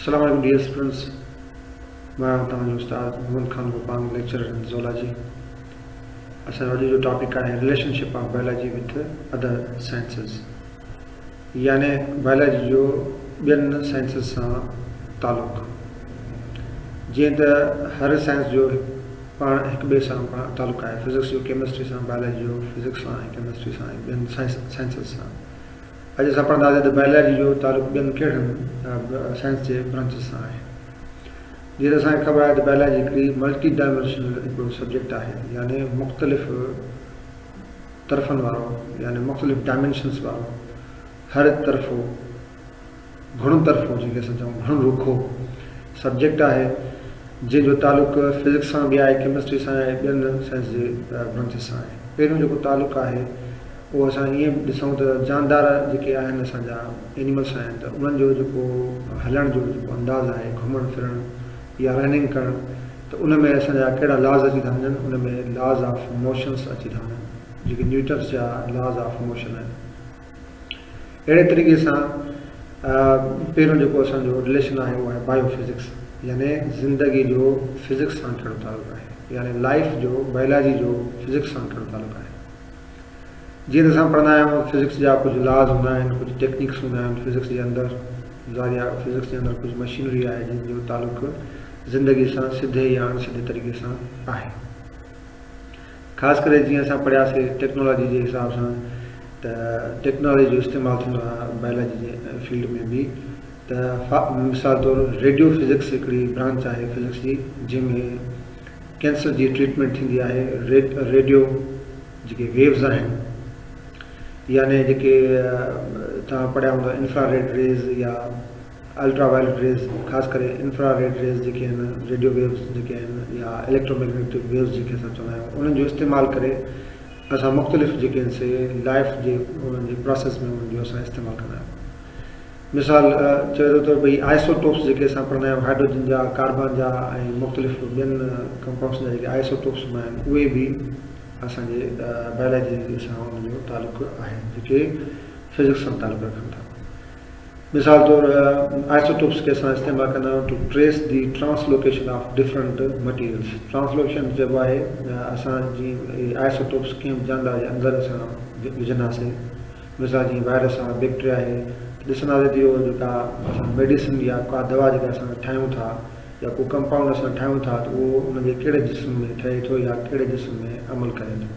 السلام عليڪم dear students مان توهان جو استاد Muhammad Khan Gopang lecturer in zoology اسان جو اڄ جو ٽاپڪ آهي relationship of biology with other sciences يعني بائلاجي جو ٻين سائنسز سان تعلق. جيئن ته هر سائنس جو پاڻ هڪ ٻئي سان پاڻ تعلق آهي، فزڪس جو ڪيمسٽري سان، بائلاجي جو فزڪس سان ۽ ڪيمسٽري سان ۽ ٻين سائنسز سان. اڄ اسان پڙهنداسين ته بائلاجي جو تعلق ٻين ڪهڙن سائنس جي برانچز سان آهي. جيئن ته اسان کي خبر آهي ته بائلاجي هڪڙي ملٽي ڊائمينشنل هڪڙو سبجيڪٽ آهي يعني مختلف طرفن وارو يعني مختلف ڊائمينشنس وارو هر طرفو، گهڻ طرفو جنهن کي اسان چئون گهڻ رخو سبجيڪٽ آهي جنهن جو تعلق فزڪس سان به آهي، ڪيمسٽري سان آهي، ٻين سائنس جي برانچز سان آهي. پهريون جيڪو تعلق آهي اهو اسان ائين به ڏسون ته جاندار جيڪي آهن اسان جا اينيملس آهن ته انهن جو جيڪو هلڻ جو جيڪو انداز آهي، گهمڻ ڦرڻ، يا رننگ ڪرڻ ته ان ۾ اسان جا ڪهڙا لاز اچي ٿا وڃن ان ۾ لاز آف موشنس اچي ٿا وڃن جيڪي نيوٽنس جا لاز آف موشن آهن اهڙي طريقي سان پهريون جيڪو اسان جو رليشن آهي اهو آهي بايو فزڪس يعني زندگي جو فزڪس سان ڪهڙو تعلق آهي يعني لائف جو بائيولاجي جو فزڪس سان ڪهڙو تعلق آهي جيئن ته اسان پڙهندا آهيون فزڪس جا ڪجهه لاز هوندا آهن ڪجهه ٽيڪنڪس هوندا آهن فزڪس جي اندر ظاهريا فزڪس جي اندر ڪجهه مشينري آهي جن جو تعلق زندگي سان سڌي يا اڻ سڌي طريقي سان آهي خاص ڪري جيئن اسان پڙهياسين ٽيڪنالاجي جي حساب سان ته ٽيڪنالاجي جو استعمال ٿيندو آهي بايولاجي جي فيلڊ ۾ به ته مثال طور ريڊيو فزڪس هڪڙي برانچ آهي فزڪس جي جنهن ۾ ڪينسر جي ٽريٽمينٽ ٿيندي آهي ريڊيو جيڪي ويوز آهن يعني جيڪي توهان پڙهيا هوندا انفرا ريڊ ريز يا الٽرا وائلٽ ريز خاص ڪري انفرا ريڊ ريز جيڪي آهن ريڊيو ويوز جيڪي آهن يا اليڪٽرو ميگنيٽڪ ويوز جيڪي اسان چوندا آهيون انهن جو استعمال ڪري اسان مختلف جيڪي آهن سي لائف جي انهن جي پروسيس ۾ انهن جو اسان استعمال ڪندا آهيون مثال چويرو طور ٻئي آئسوٽوپس جيڪي اسان پڙهندا آهيون هائڊروجن جا، ڪاربان جا ۽ مختلف ٻين ڪمپائونڊسن جا جيڪي آئسوٽوپس هوندا آهن اهي به اسان جي بائلاجي سان ان جو تعلق آهي جيڪي فزڪس سان تعلق رکن ٿا. مثال طور آئسوٽوپس کي اسان استعمال ڪندا آهيون to trace the translocation of different materials translocation چئبو آهي اسان جي آئسوٽوپس ڪنهن به جاندار جي اندر اسان وجهنداسين مثال جيئن وائرس آهي بيڪٽريا آهي ته ڏسنداسين ته اهو جيڪا اسان ميڊيسن يا ڪا دوا جيڪا اسان ٺاهيون ٿا يا ڪو ڪمپائونڊ اسان ٺاهيون ٿا ته اهو ان جي ڪهڙي جسم ۾ ٺهي ٿو يا ڪهڙي جسم ۾ عمل ڪري ٿو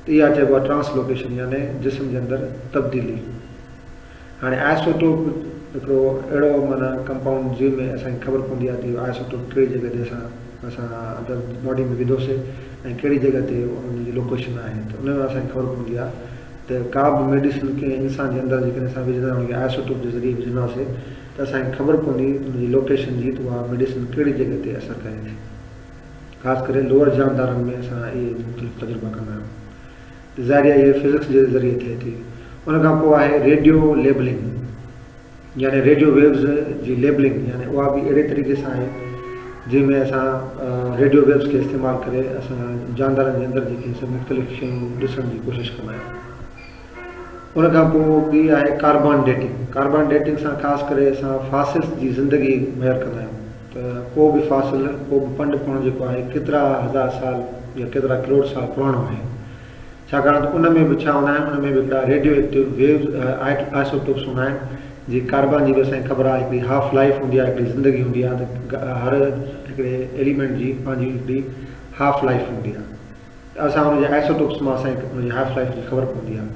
ته اها چئبو آهي ٽرانسلوڪيشن يعني جسم جي اندر تبديلي هاڻي آئسوٽوپ هڪڙو اهڙو معنيٰ ڪمپائونڊ جنهن ۾ اسان کي خبر پوندي آهي ته اهو آئسوٽوپ ڪهڙي جڳهه تي اسان اسان اندر باڊي ۾ وڌوسي ۽ ڪهڙي جڳهه تي ان جي لوڪيشن آهي ته ان ۾ اسان کي خبر پوندي آهي ته ڪا به ميڊيسن ڪنهن انسان جي اندر جيڪڏهن اسان وجهندا آهيون ان کي آئسوٽوپ جي ذريعي وجهنداسي ته اسان کي خبر پوندي ان جي لوڪيشن جي ته اها ميڊيسن ڪهڙي جڳهه تي اثر ڪري ٿي خاص ڪري لوئر جاندارن ۾ اسان اهي مختلف تجربا ڪندا آهيون ته ظاهري اهي فزڪس جي ذريعي ٿئي ٿي ان کان پوء آهي ريڊيو ليبلنگ يعني ريڊيو ويوز جي ليبلنگ يعني اها به اهڙي طريقي سان آهي جنهن ۾ اسان ريڊيو ويوز کي استعمال ڪري اسان جاندارن جي اندر جيڪي سڀ مختلف شيون ڏسڻ جي ڪوشش ڪندا آهيون ان کان پوء ٻي آهي ڪاربان ڊيٽنگ ڪاربان ڊيٽنگ سان خاص ڪري اسان فاسلس جي زندگي مهر ڪندا آهيون ته ڪو به فاسل ڪو به پنڊ پڻ جيڪو آهي ڪيترا هزار سال يا ڪيترا ڪروڙ سال پراڻو آهي ڇاڪاڻ ته ان ۾ به ڇا هوندا آهن ان ۾ به هڪڙا ريڊيو ايڪٽيو ويوز آئسوٽوپس هوندا آهن جي ڪاربان جي به اسان کي خبر آهي هڪڙي هاف لائيف هوندي آهي هڪڙي زندگي هوندي آهي ته هر هڪڙي ايليمينٽ جي پنهنجي هڪڙي هاف لائيف هوندي آهي ته اسان ان جي آئسوٽوپس مان اسان کي ان جي هاف لائيف جي خبر پوندي آهي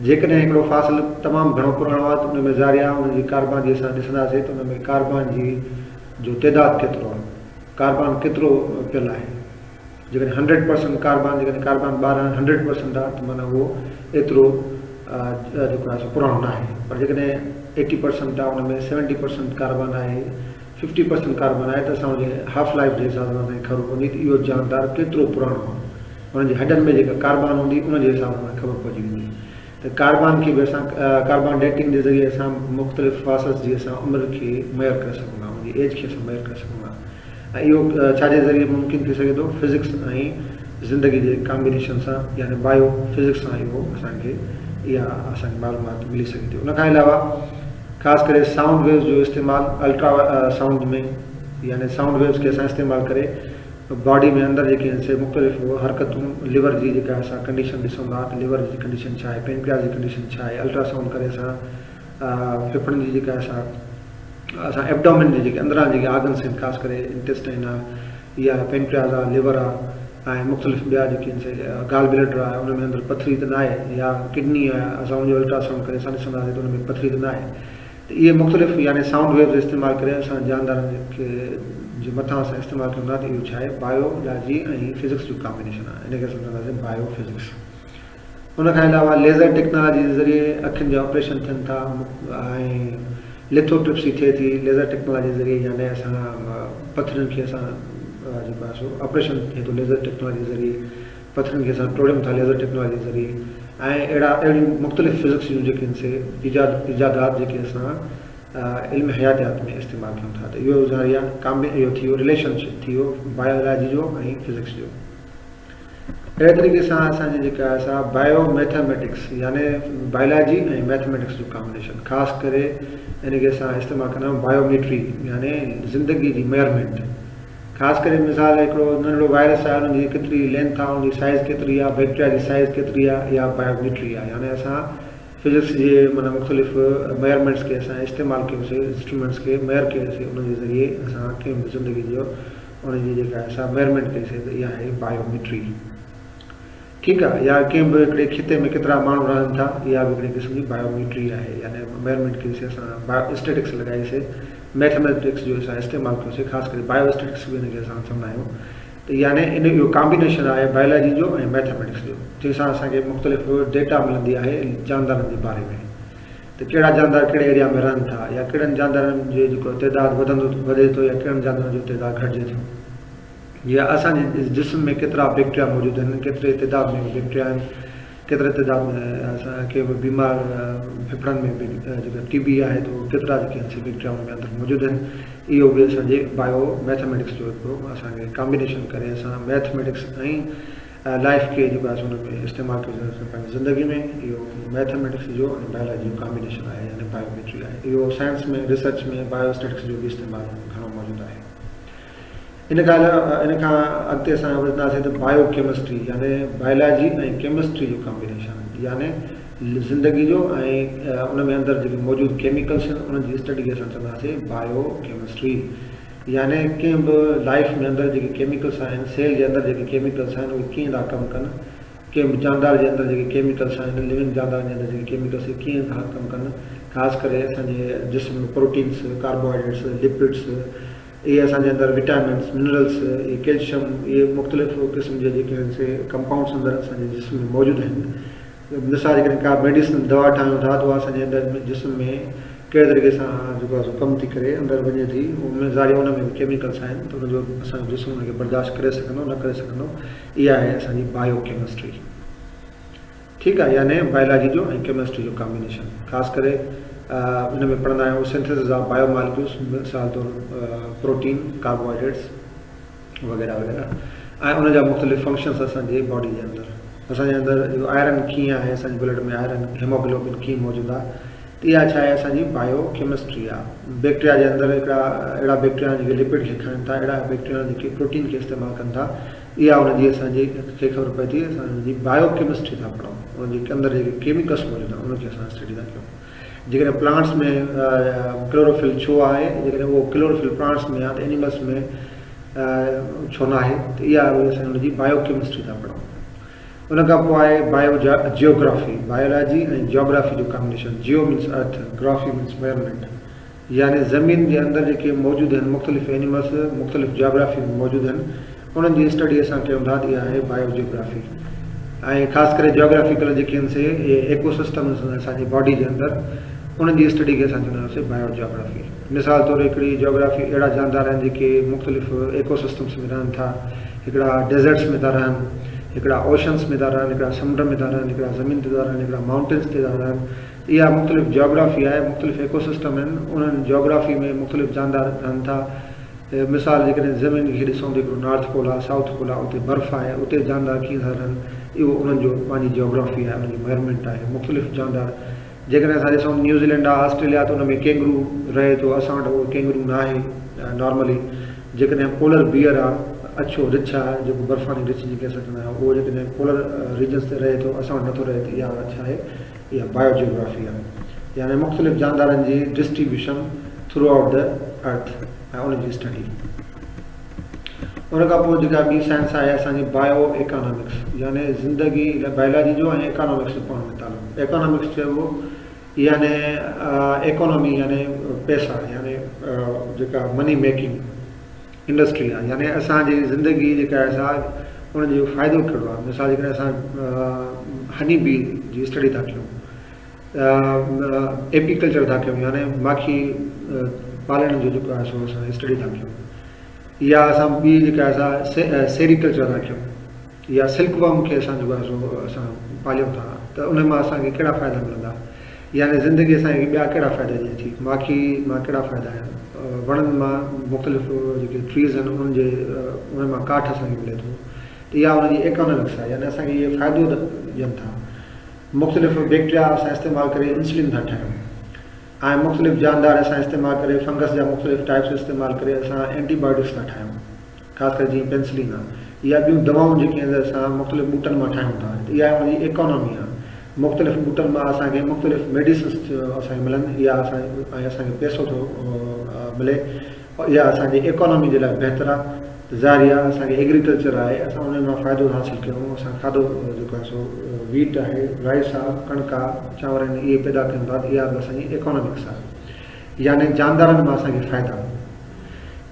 جيڪڏهن هڪڙو فاصل تمام گهڻو پراڻو آهي ته ان ۾ ظاري آهي ان جي ڪاربان جي اسان ڏسنداسين ته ان ۾ ڪاربان جي جو تعداد ڪيترو آهي ڪاربان ڪيترو پيل آهي جيڪڏهن هنڊريڊ پرسنٽ ڪاربان جيڪڏهن ڪاربان ٻارهن هنڊريڊ پرسنٽ آهي ته معنيٰ اهو ايترو جيڪو آهي سو پراڻو نه آهي پر جيڪڏهن ايٽي پرسنٽ آهي ان ۾ سيونٽي پرسنٽ ڪاربان آهي ففٽي پرسنٽ ڪاربان آهي ته اسان ان جي هاف لائيف جي حساب سان خبر پوندي ته اهو جاندار ڪيترو پراڻو آهي ان جي هڏن ۾ جيڪا ڪاربان هوندي ان جي حساب سان خبر پئجي ويندي ته ڪاربان کي به اسان ڪاربان ڊيٽنگ جي ذريعي اسان مختلف فاسس جي اسان عمر کي ميئر ڪري سگهون ٿا ان جي ايج کي اسان ميئر ڪري سگهون ٿا ۽ اهو ڇا جي ذريعي ممڪن ٿي سگهي ٿو؟ فزڪس ۽ زندگي جي ڪامبينيشن سان يعني بايو فزڪس سان اهو اسان کي اها اسان کي معلومات ملي سگهي ٿي ان کان علاوه خاص ڪري سائونڊ ويوز جو استعمال الٽرا سائونڊ ۾ يعني سائونڊ ويوز کي اسان استعمال ڪري باڊي ۾ اندر جيڪي آهن سي مختلف حرڪتون ليور جي جيڪا اسان ڪنڊيشن ڏسون ٿا ته ليور جي ڪنڊيشن ڇا آهي پينڪرياس جي ڪنڊيشن ڇا آهي الٽرا سائونڊ ڪري اسان ڦڦڙن جي جيڪا اسان اسان ابڊامن جي جيڪي اندران جيڪي آرگنس آهن خاص ڪري انٽيسٽائن آهي يا پينڪرياز آهي ليور آهي ۽ مختلف ٻيا جيڪي آهن سي گال بليڊر آهي ان ۾ اندر پٿري ته ناهي يا ڪڊني آهي اسان ان جو الٽراسائونڊ ڪري اسان ڏسنداسين ته ان ۾ پٿري ته ناهي ته اهي مختلف يعني سائونڊ ويوز استعمال ڪري اسان جاندارن کي جي مٿان اسان استعمال ڪيون ٿا ته اهو ڇا آهي بايولاجي ۽ فزڪس جو ڪامبينيشن آهي ان کي اسان چونداسين بايو فزڪس ان کان علاوه ليزر ٽيڪنالاجي جي ذريعي اکين جا آپريشن ٿين ٿا ۽ ليٿو ٽرپسي ٿئي ٿي ليزر ٽيڪنالاجي جي ذريعي يعني اسان پٿرين کي اسان جيڪو آهي سو آپريشن ٿئي ٿو ليزر ٽيڪنالاجي جي ذريعي پٿرين کي اسان ٽوڙيون ٿا ليزر ٽيڪنالاجي جي ذريعي ۽ اهڙا اهڙيون مختلف فزڪس جون جيڪي آهن سي ايجاد ايجادات جيڪي اسان علم حياتيات ۾ استعمال ڪيون ٿا ته اهو ذريعا ڪامبي اهو ٿي ويو رليشن شپ ٿي ويو بايولاجي جو ۽ فزڪس جو اهڙي طريقي سان اسان جي جيڪا آهي سا بائيو ميٿاميٽڪس يعني بائلاجي ۽ ميٿاميٽڪس جو ڪامبنيشن خاص ڪري ان کي اسان استعمال ڪندا آهيون بائيوميٽري يعني زندگي جي ميئرمينٽ خاص ڪري مثال هڪڙو ننڍڙو وائرس آهي ان جي ڪيتري لينٿ آهي ان جي سائز ڪيتري آهي بيڪٽيريا جي سائز ڪيتري آهي اها بائيوميٽري آهي يعني اسان فزڪس جي معنی مختلف ميئرمينٽس کي اسان استعمال ڪيوسي انسٽرومينٽس کي ميئر ڪيوسي ان جي ذريعي اسان ڪنهن به زندگي جو ان جي جيڪا اسان ميرمينٽ ڪئي سي ته اها آهي بايو ميٽري ٺيڪ آهي يا ڪنهن به هڪڙي خطي ۾ ڪيترا ماڻهو رهن ٿا اها به هڪڙي قسم جي بايو ميٽري آهي يعني ميرمينٽ ڪئي سي اسان بايو اسٽيٽڪس لڳائي سي ميٿميٽڪس جو اسان استعمال ڪيو سي خاص ڪري بايو اسٽيٽڪس به ان کي اسان چوندا آهيون ته يعني ان اهو ڪامبينيشن آهي بايولاجي جو ۽ ميٿميٽڪس جو جنهن سان اسان کي مختلف ڊيٽا ملندي آهي جاندارن جي باري ۾ ته ڪهڙا جاندار ڪهڙي ايريا ۾ رهن ٿا يا ڪهڙن جاندارن جو جيڪو تعداد وڌندو وڌي ٿو يا ڪهڙن جاندارن جو تعداد گهٽجي ٿو يا اسان جي جسم ۾ ڪيترا بيڪٽريا موجود آهن ڪيتري تعداد ۾ بيڪٽريا آهن ڪيتري تعداد ۾ اسان کي بيمار ڦڦڙن ۾ جيڪا ٽي بي آهي ته ڪيترا جيڪي آهن سي بيڪٽريا ان جي اندر موجود آهن اهو به اسان جي بايو ميٿميٽڪس جو هڪڙو اسان کي ڪامبينيشن ڪري اسان ميٿميٽڪس ۽ لائف کي جيڪو آهي سو ان ۾ استعمال ڪري سگهندا سين پنهنجي زندگي ۾ اهو ميٿميٽڪس جو ۽ بائيولاجي جو ڪامبينيشن آهي يعني بائيوميٽري آهي اهو سائنس ۾ ريسرچ ۾ بائيو اسٽيٽڪس جو به استعمال گهڻو موجود آهي ان کان ان کان اڳتي اسان ٻڌنداسين ته بائيو ڪيمسٽري يعني بائيولاجي ۽ ڪيمسٽري جو ڪامبينيشن يعني زندگي جو ۽ ان ۾ اندر جيڪي موجود ڪيميڪلس آهن انهن جي اسٽڊي کي اسان چونداسين بائيو ڪيمسٽري يعني ڪنهن به لائف ۾ اندر جيڪي ڪيميڪلس آهن، سيل جي اندر جيڪي ڪيميڪلس آهن اهي ڪيئن ٿا ڪم ڪن، ڪنهن به جاندار جي اندر جيڪي ڪيميڪلس آهن، لونگ جاندارن جي اندر جيڪي ڪيميڪلس اهي ڪيئن ٿا ڪم ڪن، خاص ڪري اسان جي جسم ۾ پروٽينس، ڪاربوهائيڊريٽس، لپڊس، اهي اسان جي اندر وٽامنس، منرلس، اهي ڪيلشم، اهي مختلف قسم جي جيڪي آهن سي ڪمپائونڊس اندر اسان جي جسم ۾ موجود آهن. مثال جيڪڏهن ڪا ميڊيسن دوا ٺاهيون ٿا ته اها اسانجي اندر ۾ جسم ۾ ڪهڙي طريقي سان جيڪو آهي سو ڪم ٿي ڪري اندر وڃي ٿي ان ظاهري ان ۾ به ڪيميڪلس آهن ته ان جو اسانجو جسم ان کي برداشت ڪري سگهندو نه ڪري سگهندو اها آهي اسانجي بايو ڪيمسٽري ٺيڪ آهي يعني بايولاجي جو ۽ ڪيمسٽري جو ڪامبينيشن خاص ڪري ان ۾ پڙهندا آهيون سينٿيسز آف بايو مالڪيولس مثال طور پروٽين ڪاربوهائيڊريٽس وغيره وغيره ۽ ان جا مختلف فنڪشنس اسان جي باڊي جي اندر اسان جي اندر جو آئرن ڪيئن آهي اسان جي بلڊ ۾ آئرن هيموگلوبن ڪيئن موجود آهي ته اها ڇا آهي اسان جي بايو ڪيمسٽري آهي بيڪٽيريا جي اندر هڪڙا اهڙا بيڪٽيريا جيڪي لپڊ کي کائن ٿا اهڙا بيڪٽيريا جيڪي پروٽين کي استعمال ڪن ٿا اها ان جي اسان جي کي خبر پئي ٿي اسان جي بايو ڪيمسٽري ٿا پڙهون ان جي اندر جيڪي ڪيميڪلس موجود آهن ان کي اسان اسٽڊي ٿا ڪيون جيڪڏهن پلانٽس ۾ ڪلوروفل ڇو آهي جيڪڏهن اهو ڪلوروفل پلانٽس ۾ يا ته اينيملس ۾ ڇو ناهي ته اها وئي اسان ان جي بايو ڪيمسٽري ٿا پڙهون ان کان پوء آهي بايو جيوگرافي بايولاجي ۽ جيوگرافي جو combination geo means earth graphy means measurement يعني زمين جي اندر جيڪي موجود هن مختلف اينيملس مختلف جاگرافي ۾ موجود هن انهن جي اسٽڊي اسان ڪيون ٿا ته اها آهي بايو جيوگرافي ۽ خاص ڪري جاگرافيڪل جيڪي هن سي اهي ايڪو سسٽم اسان جي باڊي جي اندر انهن جي اسٽڊي کي اسان چوندا آهيون بايو جاگرافي مثال طور هڪڙي جاگرافي اهڙا جاندار آهن جيڪي مختلف ايڪو سسٽمس ۾ رهن ٿا هڪڙا ڊيزرٽس ۾ ٿا رهن هڪڙا اوشنس ۾ ٿا رهن هڪڙا سمنڊ ۾ ٿا رهن هڪڙا زمين تي ٿا رهن هڪڙا ماؤنٽنس تي ٿا رهن اها مختلف جاگرافي آهي، مختلف ايڪوسسٽم آهن، انهن جاگرافي ۾ مختلف جاندار رهن ٿا، مثال جيڪڏهن زمين کي ڏسون ته هڪڙو نارٿ پول آهي، سائوٿ پول آهي، اتي برف آهي، اتي جاندار ڪيئن ٿا رهن، اهو انهن جو پنهنجي جاگرافي آهي، انهن جو ميرمينٽ آهي، مختلف جاندار جيڪڏهن اسان ڏسون نيوزيلينڊ آهي، آسٽريليا آهي ته ان ۾ ڪينگرو رهي ٿو، اسان وٽ اهو ڪينگرو ناهي نارملي، جيڪڏهن پولر بيئر آهي، اڇو رڇ آهي، جيڪو برفاني رڇ جنهن کي اسان چوندا آهيون، اهو جيڪڏهن پولر ريجنس تي رهي ٿو، اسان وٽ نٿو رهي ته اها ڇا آهي؟ يا Biogeography آهي، يعني مختلف جاندارن جي Distribution Throughout the Earth ۽ ان جي اسٽڊي. ان کان پوء جيڪا ٻي سائنس آهي اسان جي Bio Economics، يعني زندگي لاء بائلاجي جو ۽ ايڪانامڪس جو پاڻ ۾ تعلق. ايڪانامڪس چئبو يعني ايڪانامي يعني پئسا يعني جيڪا Money Making. انڊسٽري آهي يعني اسان جي زندگي جيڪا آهي سا ان جو فائدو ڪهڙو آهي مثال جيڪڏهن اسان هني بي جي اسٽڊي ٿا ڪيون ايپيڪلچر ٿا ڪيون يعني ماکي پالڻ جو جيڪو آهي سو اسان اسٽڊي ٿا ڪيون يا اسان ٻي جيڪا آهي سا سيريڪلچر ٿا ڪيون يا سلڪ ورم کي اسان جيڪو آهي سو اسان پاليون ٿا ته ان مان اسان کي ڪهڙا فائدا ملندا يعني زندگي اسان کي ٻيا ڪهڙا فائدا ڏئي ٿي ماکي مان ڪهڙا فائدا آهن وڻن مان مختلف جيڪي ٽريز آهن انهن جي انهن مان ڪاٺ اسان کي ملي ٿو ته يا ان جي ايڪانامڪس آهي يعني اسان کي اهي فائدو ڏين ٿا مختلف بيڪٽريا اسان استعمال ڪري انسولين ٿا ٺاهيون ۽ مختلف جاندار اسان استعمال ڪري فنگس جا مختلف ٽائپس استعمال ڪري اسان اينٽي بايوٽڪس ٿا ٺاهيون خاص ڪري جيئن پينسلين آ يا ٻيون دوائون جيڪي آهن اسان مختلف ٻوٽن مان ٺاهيون ٿا ته اها ان جي ايڪانامي آ مختلف ٻوٽن مان اسان کي مختلف ميڊيسنس اسان کي ملن اها اسان ۽ اسان کي پيسو ٿو ملي اها اسان جي ايڪانامي جي لاء بهتر آ ته ظاهري آ اسان کي ايگريڪلچر آهي اسان ان مان فائدو حاصل ڪيون اسان کاڌو جيڪو آهي سو ويٽ آهي رائس آ ڪڻڪ آ چانور آهن اهي پيدا ٿين ٿا ته اها به اسان جي ايڪانامڪس آ يعني جاندارن مان اسان کي فائدا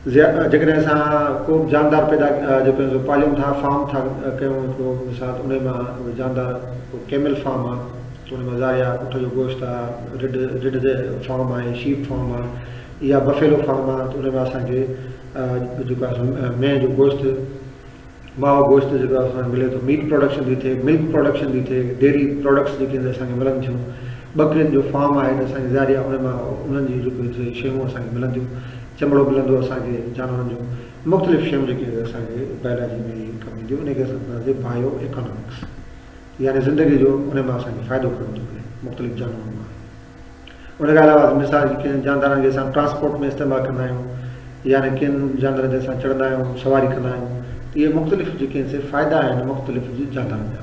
زياده جيڪڏهن اسان ڪو به جاندار پيدا جيڪو سو پاليون ٿا فارم ٿا ڪيون هڪڙو مثال ان مان جاندار ڪيمل فارم آ تو ان مان زاريا اٺ جو گوشت آ رڊ رڊ جي فارم آ شيپ فارم آ يا بفيلو فارم آ تو ان مان اسان کي جيڪو مينهن جو گوشت ماء گوشت جيڪو اسان کي ملي ٿو، ميٽ پروڊڪشن ٿي ٿئي، ملڪ پروڊڪشن ٿي ٿئي، ڊيري پروڊڪٽس جيڪي هند اسان کي ملن ٿيون، ٻڪرين جو فارم آهي ته اسان کي ظاهر آهي ان مان انهن جون جيڪو هي شيون اسان کي ملن ٿيون، چمڙو ملندو اسان کي جانورن جو، مختلف شيون جيڪي هي اسان کي بائلاجي ۾ هي ڪم اينديون، ان کي اسان چونداسين بايو ايڪانامڪس يعني زندگي جو ان مان اسان کي فائدو ڪرڻ ٿو ملي مختلف جانورن مان. ان کان علاوه مثال جي ڪن جاندارن کي اسان ٽرانسپورٽ ۾ استعمال ڪندا آهيون يعني ڪن جاندارن تي اسان چڙهندا آهيون سواري ڪندا آهيون ته اهي مختلف جيڪي آهن سي فائدا آهن مختلف جي جاندارن جا.